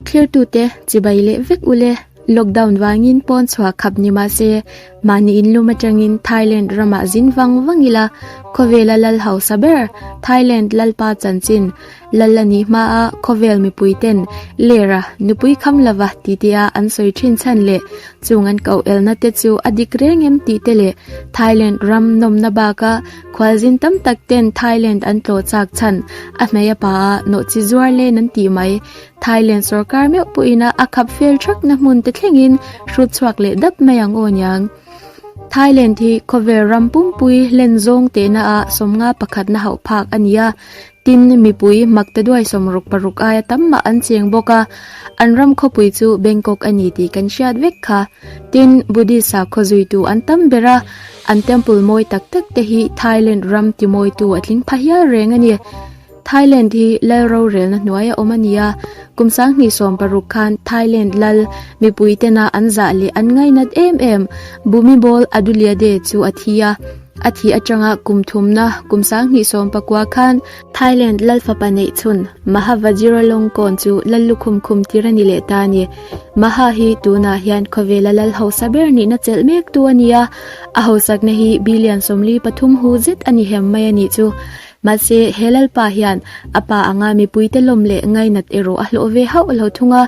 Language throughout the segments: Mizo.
Thlertute, Chibai leh vek u le, lockdown vangin pawn chhuah khap ni mah se, mahni in lum atangin Thailand ramah zin vang vang ila khawvela lal hausa ber, Thailand Lalpa chanchin lal a nih hma a khawvel mipui ten Lerah nupui kham lova ti te a an sawi thin chhan leh chung an koh elna te chu a dik reng em tih te leh Thailand ram nawmna bak a Khualzin tam tak ten Thailand an tlawh chak chhan, a hmeia pa a nawh chi zuar len an tih mai. Thailand sorkar meuh pawh in a khap fel thak na hmun te thleng in hrut chhuak leh dap mai ang aw niang. Thailand hi khawvel ram pumpui len zawng teh na a sawmnga pakhat na hauh phak a ni a. Tin, mipui makte duai sawm ruk paruk aia tam mah an cheng bawk a, an ram khawpui chu Bangkok a ni tih kan hriat vek kha. Tin, Buddhist sakhaw zuitu an tam ber a, an temple mawi tak tak te hi Thailand ram timawitu a tling pha hial reng a ni. Thailand hi Lal rorelna hnuai a awm a ni a, kum sanghnih sawm paruk khan Thailand Lal mipui tena an zah leh an ngainat em em Bhumibol Adulyadej chu a thi a, A thih atanga kum thumna kum sang hnih sawm pakua khan Thailand lal fapa neih chhun Maha Vajiralongkorn chu lal lukhum khum tir a ni leh ta a ni. Maha hi tunah hian khawvela lal hausa ber nihna chelh mek tu a ni a, a hausakna hi billion sawmli pathum hu zet a ni hem mai a nih chu. Mahse, he lalpa hian a pa anga mipuite lawm leh ngainat erawh a hlawh ve hauh lo thung a.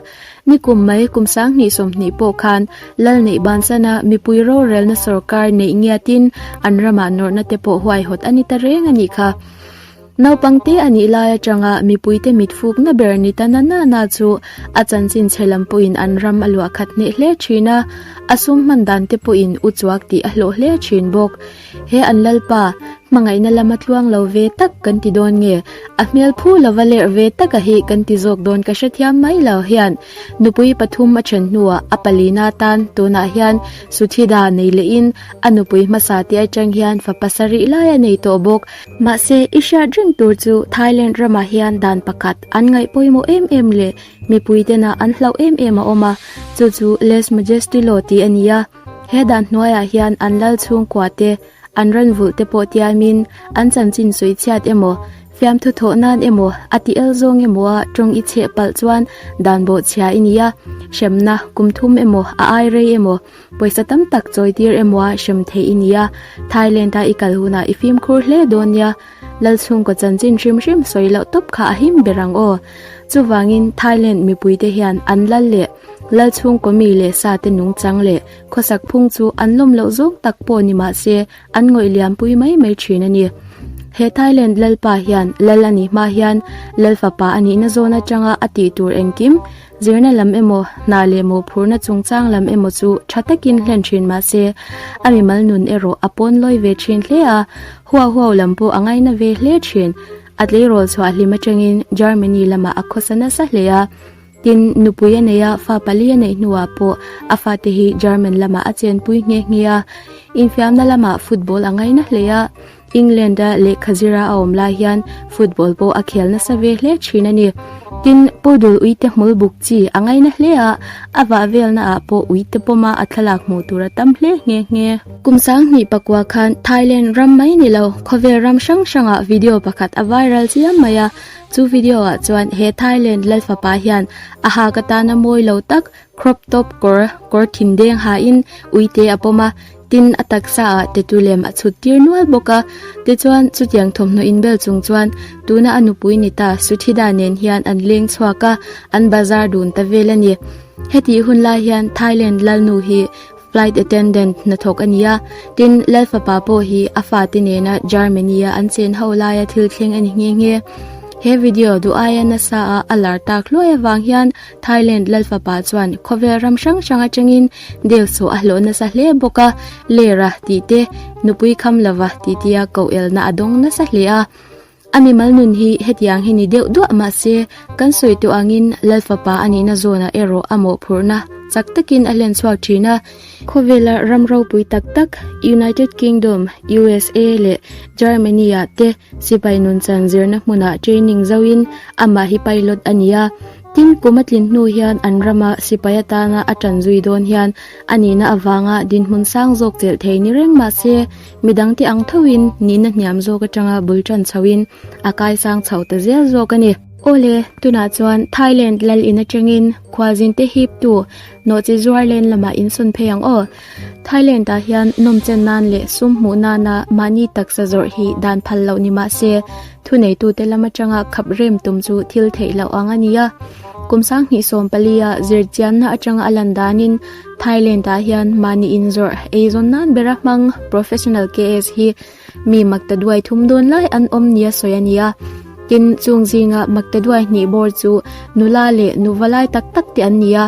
Ni kum mai kum sang hnih sawmhnih pawh khan lal neih ban chana mipui rorelna sorkar neih ngiatin an ramah nawrhna te pawh huaihawt a ni ta reng a nih kha. Naupang te a nih lai atanga mipui te mitfukna ber ni ta nana na chu a chanchin chhe lam pawhin an ram a luah khat hneh hle thin a, a sum hman dan te pawhin u chuak tih a hlawh hle thin bawk. He an Lalpa, hmangaihna lama tluang lo ve tak kan ti dawn nge? A hmel phu lova lerh ve taka hi kan ti zawk dawn ka hrethiam mai lo hian. Nupui pathum a then hnuah a palina tan tunah hian Suthida nei lehin a nupui hmasa te atang hian fa pasarih lai a nei tawh bawk. Mahse, i hriat reng tur chu Thailand ramah hian dan pakhat an ngaih pawimawh em em leh mipuitena an hlauh em em a awm a, chu chu lèse-majesty law tih a ni a. He dan hnuaiah hian an lal chhungkua te, an rawn vulh te pawh tialmin an chanchin sawi chhiat emaw, fiamthu thawh nan emaw, a ti el zawng emawa tawng i chheh palh chuan dan bawhchhia i ni a, hremna, kum thum emaw, a ai rei emaw, pawisa tam tak chawitir emawa hrem theih i ni a, Thailand-a i kal hunah i fimkhur hle dawn nia. Lal chhungkaw chanchin hrim hrim sawi loh tawp kha a him ber ang aw. Chuvangin Thailand mipuite hian an lal leh lal chhungkaw mi leh sa te nungchang leh khawsak phung chu an lawm loh zawng tak pawh ni mah se an ngawih liampui mai mai thin a ni. He Thailand lalpa hian lal a nih hma hian lal fapa a nihna zawn atanga a tih tur engkim Zirna lam emaw, hna leh mawhphurhna chungchang lam emaw chu tha takin hlen thin mah se, a mimal nun erawh a pawn lawi ve thin hle a, huau huau lam pawh a ngaina ve hle thin. A tleirawl chhuah hlim atangin Germany lamah a khawsa nasa hle a. Tin, nupui a neih a, fa pali a neih hnuah pawh a fate hi German lamah a chenpui nghe nghe a. Infiamna lamah football a ngaina hle a. England-a lehkha zira a awm lai hian football pawh a khel nasa ve hle thin a ni. Tin, Poodle uite hmul buk chi a ngaina hle a, a vah velnaah pawh uite pawma a thlalak hmuh tur a tam hle nghe nghe. Kum sang hnih pakua khan Thailand ram mai ni lo, khawvel ram hrang hrangah video pakhat a viral chiam mai a. Chu video-ah chuan he Thailand lal fapa hian a hak atana mawi lo tak Crop top kawr kawr thindeng ha in ui te a pawm a, tin a taksa ah Tetu lem a chhut tir nual bawk a. Te chuan chutiang thawmhnaw in bel chung chuan tuna a nupui ni ta Suthida nen hian an leng chhuak a, an bazar dun ta vel a ni. Hetih hun lai hian Thailand lalnu hi Flight attendant hnathawk a ni a, tin Lal fapa pawh hi a fate nena Germany-a an chen ho laia thil thleng a ni nghe nghe. He video duh aia nasaa a lar tak hluai avang hian Thailand Lal fapa chuan khawvel ram hrang hrang atangin Deusawh a hlawh nasa hle bawk a, Ler a tih te, Nupui kham lova tihtia koh elna a dawng nasa hle a. A mimal nun hi hetiang hi ni deuh duah mahse, kan sawi tawh angin Lalfapa a nihna zawnah erawh a mawhphurhna chak takin a hlen chhuak thin a. Khawvela ram ropui tak tak United Kingdom, usa, leh Germany-a te sipai nun chan zirna hmunah training zoin amah hi pilot a ni a. Tin, kum a tlin hnu hian an rama sipai atana a tan zui dawn hian a nihna avanga dinhmun sang zawk chelh thei ni reng mahse, Midang te ang thoin nihna hniam zawk atanga bul tan chhoin a kaisang chho ta zel zawk a ni. Aw le, tunah chuan Thailand lal in atangin khualzin te hip tu Nawhchi zuar len lamah in sawn phei ang aw. Thailand ah hian nawm chen nan leh sum hmuh nana mahni taksa zawrh hi dan phal loh ni mah se, thuneitute lam atanga khap rem tum chu thil theih loh ang a nia. Kum sang hnih sawm pali a zir chianna atanga a lan danin, Thailand ah hian mahni inzawrh eizawn nan bera hmang professional KS hi mi makta duai thum dawn lai an awm nia sawi a nia. Tin, chung zinga makta duai hnih bawr chu nula leh nuva lai tak tak te an ni a,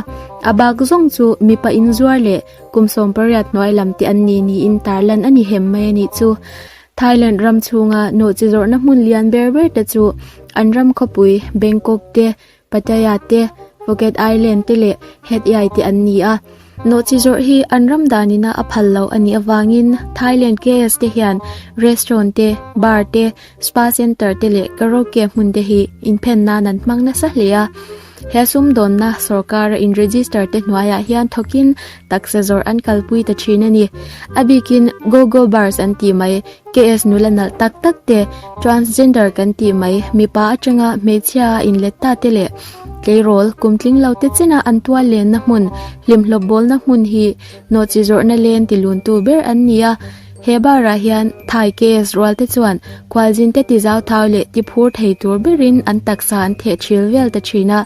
a bak zawng chu mipa inzuar leh kum sawmpariat hnuai lam te an ni niin tarlan a ni hem mai a nih chu. Thailand ram chhunga nawhchi zawrhna hmun lian ber ber te chu an ram khawpui Bangkok te, Pattaya te, Phuket Island te leh Hat Yai te an ni a. Nawhchi zawrh hi an ram danin a a phal lo a nih avangin Thailand KS te hian restaurant te, bar te, spa centre te leh karaoke hmun te hi inphen nan an hmang nasa hle a. He sumdawnna sorkara inregister te hnuaiah hian thawkin Taksa zawrh an kalpui ta thin a ni. A bikin Go-Go Bars an tih mai, KS nula nalh tak tak te, Transgender kan tih mai, mipa atanga hmeichhia a inlet ta te leh tleirawl kum tling lo te chin a an tual lenna hmun, hlimhlawp bawlna hmun hi hnawhchhi zawrhna len ti luntu ber an ni a. He barah hian Thai case rualte chuan Khualzinte ti zau thau leh ti phur thei tur berin an taksa an theh ṭhil vel ta ṭhin a,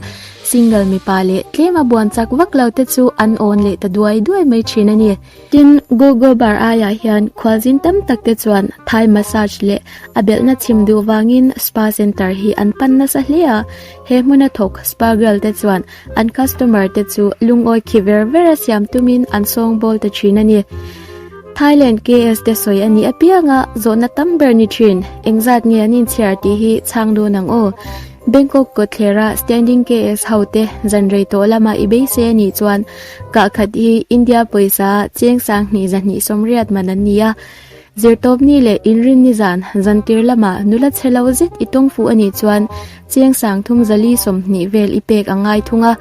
single mipa leh tlem a buan chak vak lo te chu an awn leh ta duai duai mai ṭhin a ni. Tin, Google bar aiah hian Khualzin tam tak te chuan Thai massage leh a belhna chhim duh vangin spa center hi an pan nasa hle a, He hmuna thawk spa bial te chuan an customer te chu lungawi khi ver ver a siam tumin an sawng bawl ta thin a ni. Thailand KS te sawi a nih apianga zawhna tam ber ni thin, engzat nge an inchhiar tih hi chhang dawn ang aw. Bangkok kawtthlerah standing KS ho te zan rei tawh lama i beisei a nih chuan kah khat hi India pawisa cheng sang hnih zahnih sawmriat man an ni a, Zirtawp ni leh inrin ni zan zantir lama nula chhe lo zet i tawng fuh a nih chuan chiang sang thum zali sawmhnih vel i pek a ngai thung a.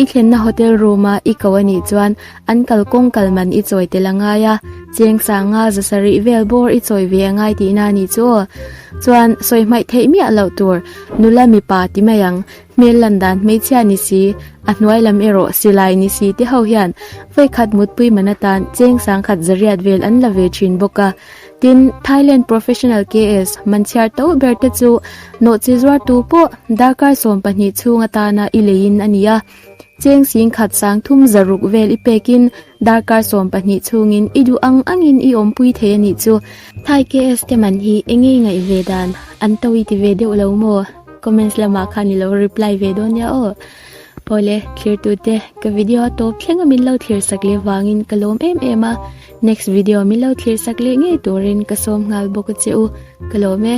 I thlenna hotel room a i ko a nih chuan an kal kawng kal man i chawi tel a ngai a, chiang sanga za sarih vel bawr i chawi ve a ngai tihna a nih chu aw. Chuan sawi hmaih theih miah loh tur nula mipa ti mai ang. Hmel lan dan hmeichhia ni si, a hnuai lam erawh silai ni si te ho hian vawikhat mutpui man atan cheng sangkhat zariat vel an la ve thin bawk a. Tin, Thailand Professional KS man chhiar to ber te chu nawh chi zuartu pawh darkar sawm pahnih chhung atana i leiin a ni a. Cheng singkhat sang thum zaruk vel i pekin darkar sawm pahnih chungin i duh ang angin i awmpui thei anih chu. Thai KS te man hi enge ngaih ve dan an to i ti ve deuh lo maw? comments lamah khan i lo reply ve dawn nia aw awle thirtute ka video a tawp thlenga min lo thlir sak leh vangin ka lawm em em a next video min lo thlir sak leh ngei turin ka sawm nghal bawk a che u ka lawm e.